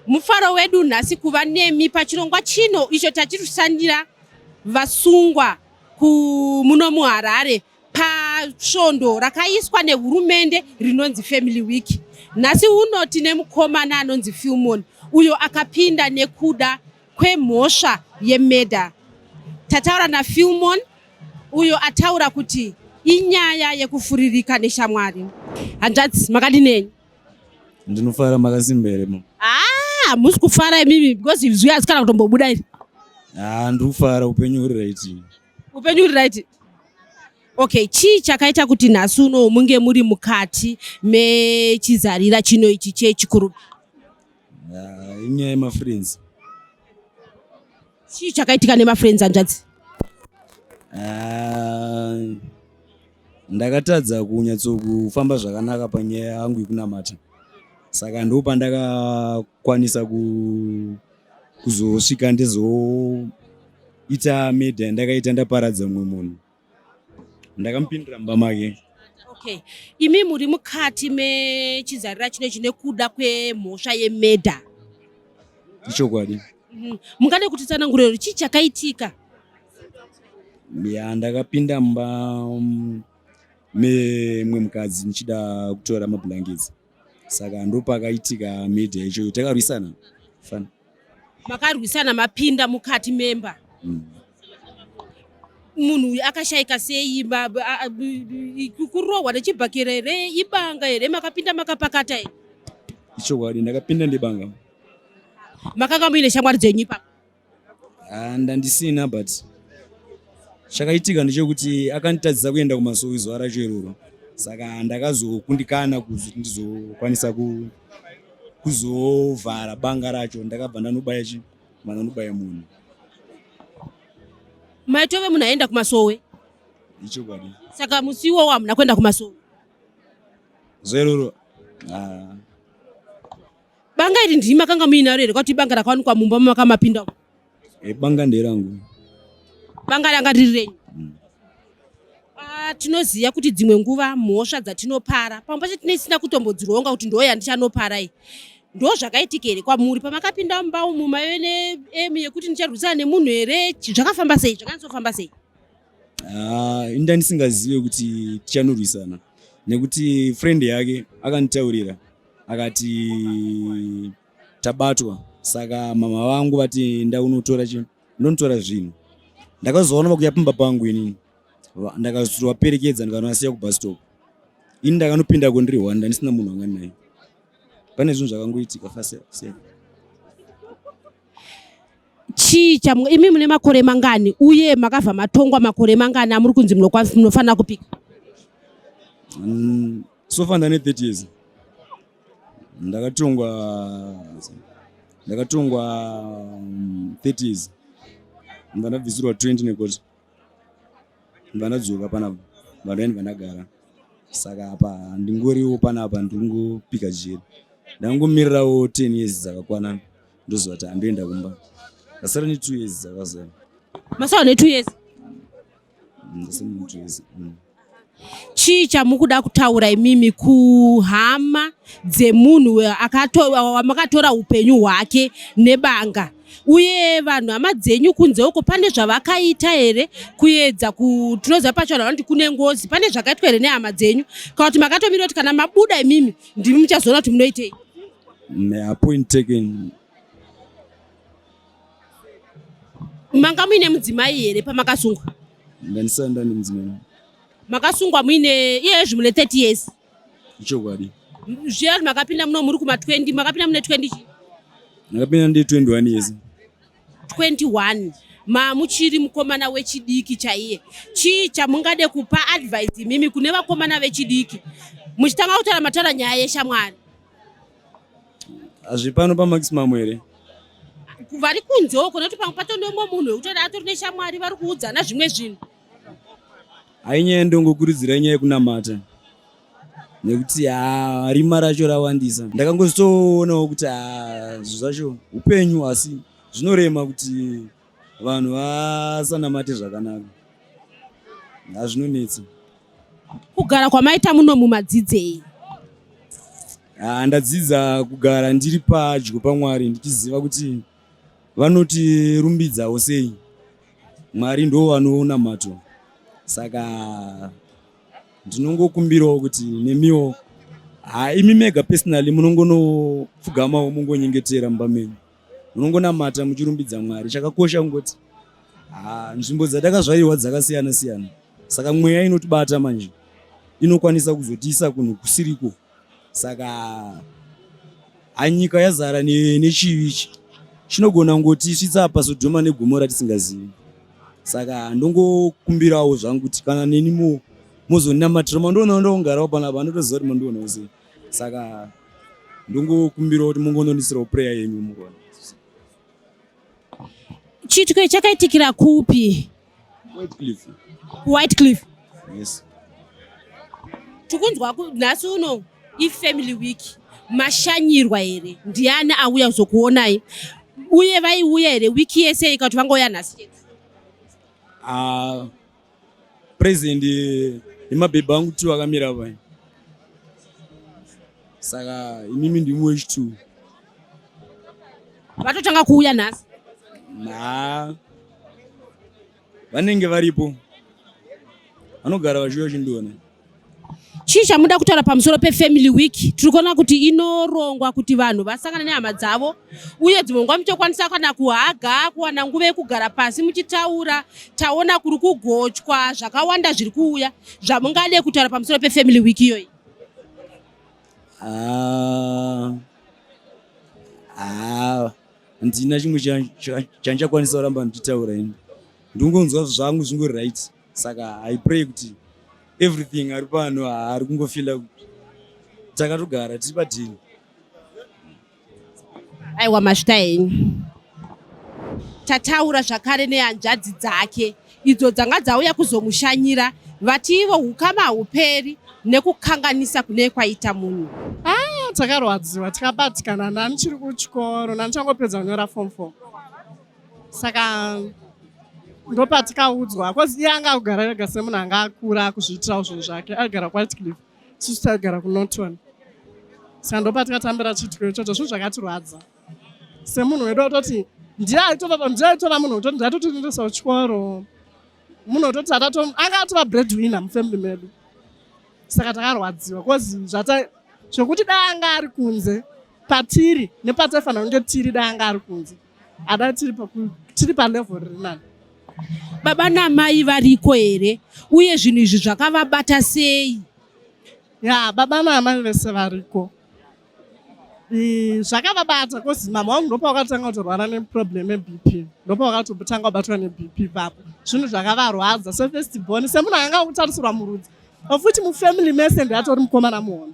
mufaro wedu nhasi kuva nemi pachirongwa chino icho tachiri kushandira vasungwa muno muharare pasvondo rakaiswa nehurumende rinonzi family week nhasi uno tine mukomana anonzi filmon uyo akapinda nekuda kwemhosva yemedha tataura nafilmon uyo ataura kuti inyaya yekufuririka neshamwari hanzvadzi makadini henyu ndinofara makasimba here mama ah musi kufara imimi because izwi hasikana kutombobuda iri ah ndiri kufara upenyu huri right upenyu huri right okay chii chakaita kuti nhasi uno munge muri mukati mechizarira chino ichi chechikuru ah, inyaya yemafriends chii chakaitika nemafriends hanzvadzi ah, ndakatadza kunyatsokufamba zvakanaka panyaya yangu yekunamata saka ndo pandakakwanisa kuzosvika ndizoita media ndakaita ndaparadza mumwe munhu ndakamupindira mumba make okay imi muri mukati mechizarira chino chine kuda kwemhosva yemedha ichokwadi mhm. mungade kuti tsananguriro chii chakaitika ya ndakapinda mumba mm, memwe mukadzi ndichida kutora mablankets saka ndopakaitika media ichoyo takarwisana fan makarwisana mapinda mukati memba mm. munhu uyu akashaika sei kurohwa nechibhakera here ibanga here makapinda makapakata here ichokwadi ndakapinda ndibanga makanga muine shamwari dzenyu ipapo Ah, ndandisina but chakaitika ndechekuti akanditadzisa kuenda kumasowe zuva racho iroro saka ndakazokundikana kuti ndizokwanisa ku- kuzovhara banga racho ndakabva ndanobaya chi mandanobaya munhu maitove munhu aenda kumasowe ichokwadi saka musi iwowo hamuna kuenda kumasowe zvairoro ah, Banga iri ndimi makanga muinaro here kwati ibanga rakawanikwa mumba mamakamapinda? Eh, banga nderangu. Banga ranga riri renyu? Mm. Ah, tinoziva kuti dzimwe nguva mhosva dzatinopara pamwe pacho tine isina kutombodzironga kuti ndoo yandichanopara iyi ndo zvakaitika here kwamuri pamakapinda mumba umu maive neemu yekuti ndicharwisana nemunhu here zvakafamba sei zvakanyatsoofamba sei ah, inda ndisingazive kuti tichanorwisana nekuti friend yake akanditaurira akati tabatwa saka mama vangu vati ndaunotora chi ndonotora zvinhu ndakazoona vakuya pamba pangu inini ndakazovaperekedza ndikanovasiya kubus stop ini ndakanopinda kundiri one ndandisina munhu wanga naye pane zvinhu zvakangoitika fast chii chamwe imi mune makore mangani uye makabva matongwa makore mangani amuri kunzi munofanira kupika mm, So far ndane 30 years. Ndakatongwa ndakatongwa 30 years. Ndanabvisirwa 20 nekoti. Ndanadzoka panapa. Vanhu yani vanagara. Saka hapa ndingoriwo panapa ndingopika jeri. Ndangomirirawo 10 years dzakakwana ndoziva kuti handoenda kumba. Ndasara ne 2 years dzakazara. Masara ne 2 years. mm. chii chamukuda kutaura imimi kuhama dzemunhu wamakatora upenyu hwake nebanga uye vanhu hama dzenyu kunze uko pane zvavakaita here kuedza tinoziva pacho vanhu vanoti kune ngozi pane zvakaitwa here nehama dzenyu kana kuti makatomira kuti kana mabuda imimi ndimi muchazoona kuti munoitei manga muine mudzimai here pamakasungwa ndandisana ndani mudzimai makasungwa muine iyezvi mune 30 years ichokwadi zviya makapinda muno muri kuma 20 makapinda mune 20 chi makapinda ndi 21 years 21 mamuchiri mukomana wechidiki chaiye chii chamungade kupa advice imimi kune vakomana vechidiki muchitanga kutaura mataura nyaya yeshamwari hazvipano pamaximum here vari kunze uko nekuti pamwe patonomwe munhu wekutoda atori neshamwari vari kuudzana zvimwe zvinhu hainyaya ndongokurudzira inyaya yekunamata nekuti ha rima racho rawandisa ndakangozitoonawo kuti ha zvinhu zvacho upenyu asi zvinorema kuti vanhu vasanamate zvakanaka hazvinonetsa kugara kwamaita muno mumadzidzei ah, ndadzidza kugara ndiri padyo pamwari ndichiziva kuti vanotirumbidzawo sei mwari ndo vanoona mato saka ndinongokumbirawo kuti nemiwo ha ah, imi mega personally munongonopfugamawo mungonyengetera mumba menyu munongonamata muchirumbidza mwari chakakosha kungoti ah, nzvimbo dzatakazvarirwa dzakasiyana siyana saka mweya inotibata manje inokwanisa kuzotiisa kunhu kusiriko saka anyika yazara nechivi ichi chinogona kungoti svitsa apa sodhoma negomo ratisingazivi saka ndongokumbirawo zvangu kuti kana nenimo mozonamatira mandiona ndongarawo panapa andotoziva kuti mandionawo sei saka ndongokumbirawo kuti mungonondisirawo prayer yenyu murona chitwe chakaitikira kupi whitecliff whitecliff yes tikunzwa nhasi uno ifamily week mashanyirwa here ndiani auya kuzokuonai uye vaiuya here wiki yese ikati vangouya nhasi chete ah, Present yemabhebhi angu two akamira apa saka imimi ndimi wechitu vatotanga kuuya nhasi na vanenge varipo vanogara vachiuya chindiona chii chamuda kutaura pamusoro pefamily week tiri kuona kuti inorongwa kuti vanhu vasangane nehama dzavo uye dzimwe nguva muchokwanisa kana kuhaga kuwana nguva yekugara pasi muchitaura taona kuri kugochwa zvakawanda zviri kuuya zvamungade kutaura pamusoro pefamily week iyoyi ah, ah, handina chimwe chandichakwanisa kuramba ndichitaura ini ndingonzwa zvangu zvingori right saka i pray kuti everything ari pano haari kungofila kuti takatogara tiri padhini aiwa mashita henyu tataura zvakare nehanzvadzi dzake idzo dzanga dzauya kuzomushanyira vati ivo ukama hauperi nekukanganisa kune kwaita munhu ah, takarwadziwa tikabatikana nani chiri kuchikoro nani changopedza kunyora fom fom saka ndopatikaudzwa bcause iye anga akugara ega semunhu anga akura akuzviitirawo zvinhu zvake aigara kwatcliff isusu taigara kunoton saka ndopatikatambira chiitiko ichocho zvinhu zvakatirwadza semunhu wedu atoti ndiye aitova munhu wetoti ndiye atotindendesa kuchikoro munhu wetoti anga atova bread winner mufamily medu saka takarwadziwa bcause zvata zvekuti dai anga ari kunze patiri nepataifanira kunge tiri dai anga ari kunze Ada tiri paku tiri pa level riri nani. Baba namai variko here uye zvinhu izvi zvakavabata sei? Ya baba namai vese variko. zvakavabata because mama wangu ndopa wakatanga kutorwara neproblem yeBP ndopa wakatotanga kubatwa neBP papo zvinhu zvakavarwadza sefirst born semunhu anga akutarisirwa murudzi ofuti mufamily mese ndiatori mukomana muhono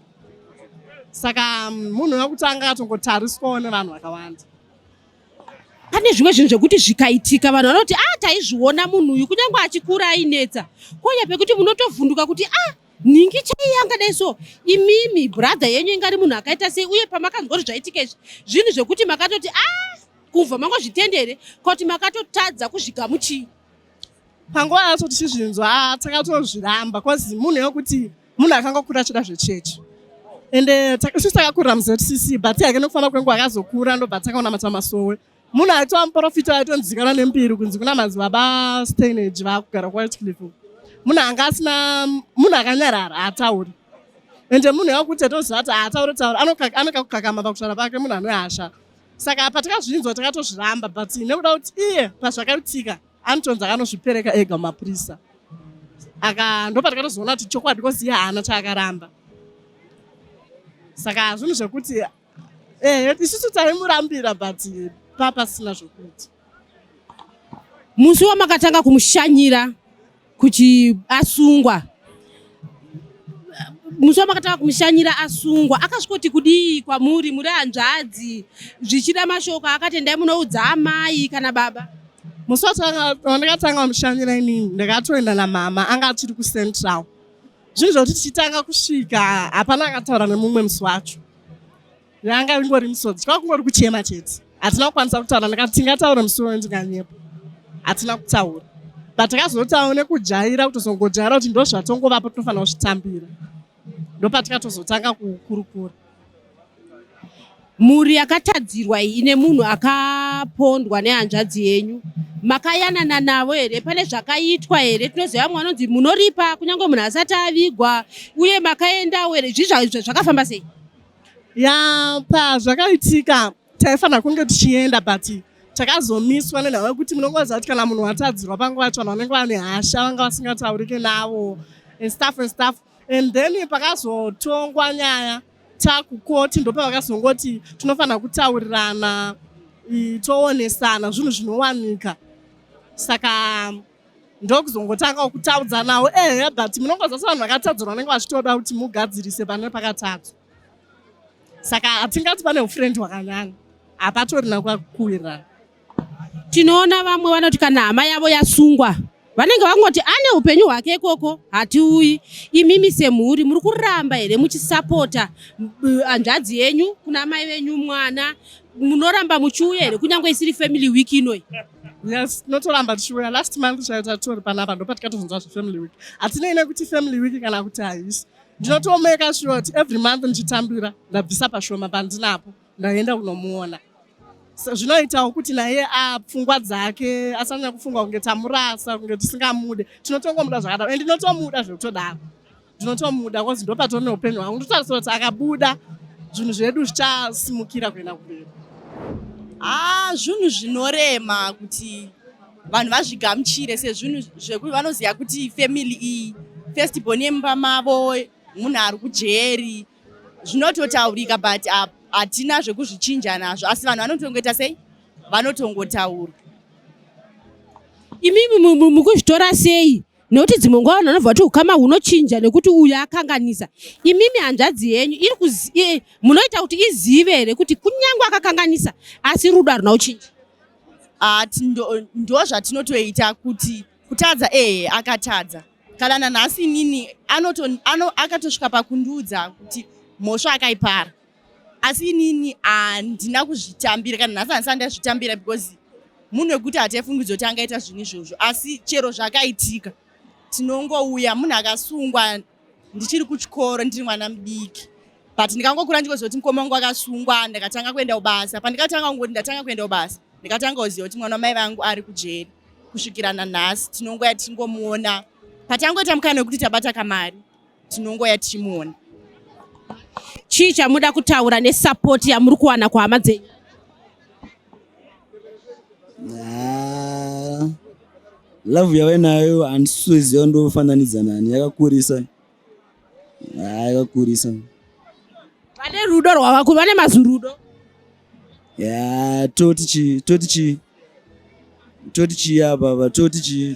saka munhu wekutanga atongotariswawo nevanhu vakawanda pane zvimwe zvinhu zvekuti zvikaitika vanhu vanoti a ah, taizviona munhu uyu kunyange achikura ainetsa konya pekuti munotovhunduka kuti a ah, nhingi chai yangadai so imimi brother yenyu ingari munhu akaita sei uye pamakanzwa kuti zvaitika izvi zvinhu zvekuti makatoti a ah, kubva mangozvitende here kuti makatotadza kuzvigamuchii panguva yacho tichizvinzwa takatozviramba bcause munhu wekuti munhu akanga kura achida zvechechi and eh, sisi takakura muzcc but yake nokufamba kwenguva akazokura ndobva takaona mata masowe munhu aitova muprofita aitonzikana nembiri kunzi kuna madzibaba stainage vaakugara kuwhitecliff munhu anga asina munhu akanyarara haatauri ende munhu yakuti atoziva kuti haatauri taura anokakukakama pakutara pake munhu anoyasha saka patakazvinzwa takatozviramba but nekuda kuti iye pazvakaitika anotonzi akanosvipereka ega mumapurisa aka ndopatakatozoona kuti chokwadi kozi iye haana chaakaramba saka zvinhu zvekuti eh, isusu taimurambira but papasina zvokuti musi wamakatanga kumushanyira kuti asungwa musi wamakatanga kumushanyira asungwa akasvikoti kudii kwamuri muri hanzvadzi zvichida mashoko akatendai munoudza amai kana baba musi wandakatanga wamushanyira inini ndakatoenda namama anga achiri kucentral zvinhu zvokuti tichitanga kusvika hapana akataura nemumwe musi wacho yanga ingori misodzi kwakungori kuchema chete hatina kukwanisa kutaura ndikati tingataure musi unoyo ndinganyepo hatina kutaura but takazotawo nekujaira kutozongojaira kuti ndo zvatongovapo tinofanira kuzvitambira ndopatikatozotanga kukurukura mhuri yakatadzirwa iyi ine munhu akapondwa nehanzvadzi yenyu makayanana navo here pane zvakaitwa here tinoziva vamwe vanonzi munoripa kunyange munhu asati avigwa uye makaendawo here zvii zvakafamba sei ya pazvakaitika taifanira kunge tichienda but takazomiswa nenhau yekuti munongoziva kuti kana munhu watadzirwa panguva yacho vanhu vanenge vane hasha vanga vasingataurike navo and stuff and stuff and then pakazotongwa nyaya takukoti ndopavakazongoti tinofanira kutaurirana toonesana zvinhu zvinowanika saka ndokuzongotangawo kutaudza nawo ehe but munongoza se vanhu vakatadzirwa vanenge vachitoda kuti mugadzirise pane pakatadzwa saka hatingati pane ufrendi hwakanyanya hapatorina kwakuwirirana tinoona vamwe vanoti kana hama yavo yasungwa vanenge vakungoti ane upenyu hwake ikoko hatiuyi imimi semhuri muri kuramba here muchisapota hanzvadzi yenyu kuna mai venyu mwana munoramba muchiuya here kunyange isiri family week inoyi yes tinotoramba tichiuya last month chaiyo tatori panapa ndopatikatozonzwa zvefamily week hatinei nekuti family week kana kuti haisi ndinotomeka sure kuti every month ndichitambira ndabvisa pashoma pandinapo ndaenda kunomuona zvinoitawo kuti naye apfungwa dzake asanyanya kufunga kunge tamurasa kunge tisingamude tinotongomuda zvakadaro and ndinotomuda zvekutodaro ndinotomuda kozi ndopatone upenyu hwangu ndotarisira kuti akabuda zvinhu zvedu zvichasimukira kuenda kumberi haa ah, zvinhu zvinorema kuti vanhu vazvigamuchire sezvinhu zvekuti vanoziva kuti family iyi first born yemumba mavo munhu ari kujeri zvinototaurika but hatina zvekuzvichinja nazvo asi vanhu vanotongoita sei vanotongotaura imimi mukuzvitora sei nekuti dzimwe nguva vanhu vanobva kuti ukama hunochinja nekuti uyu akanganisa imimi hanzvadzi yenyu iri e, munoita kuti izive here kuti kunyange akakanganisa asi rudo haruna kuchinja ah, ndo zvatinotoita kuti kutadza ehe akatadza kana nanhasi inini akatosvika pakundiudza kuti mhosva akaipara asi inini handina kuzvitambira kana nhasi handisati ndazvitambira because munhu wekuti hataifungidzo kuti angaita zvinhu izvozvo asi chero zvakaitika tinongouya munhu akasungwa ndichiri kuchikoro ndiri mwana mudiki but ndikangokura ndikoziva kuti mukoma wangu akasungwa ndikatanga kuenda kubasa pandikatanga kungoti ndatanga kuenda kubasa ndikatanga kuziva kuti mwana wamai vangu ari kujeri kusvikira nanhasi tinongoya tichingomuona patangoita mukana wekuti tabata kamari tinongoya tichimuona chii chamuda kutaura nesapoti yamuri kuwana kuhama dzenyu ah, love yave nayo handisisoziva ndofananidza nani yakakurisa ah, yakakurisa vane rudo rwavaku vane mazurudo ya toti chii toti chii toti chii apa apa toti chii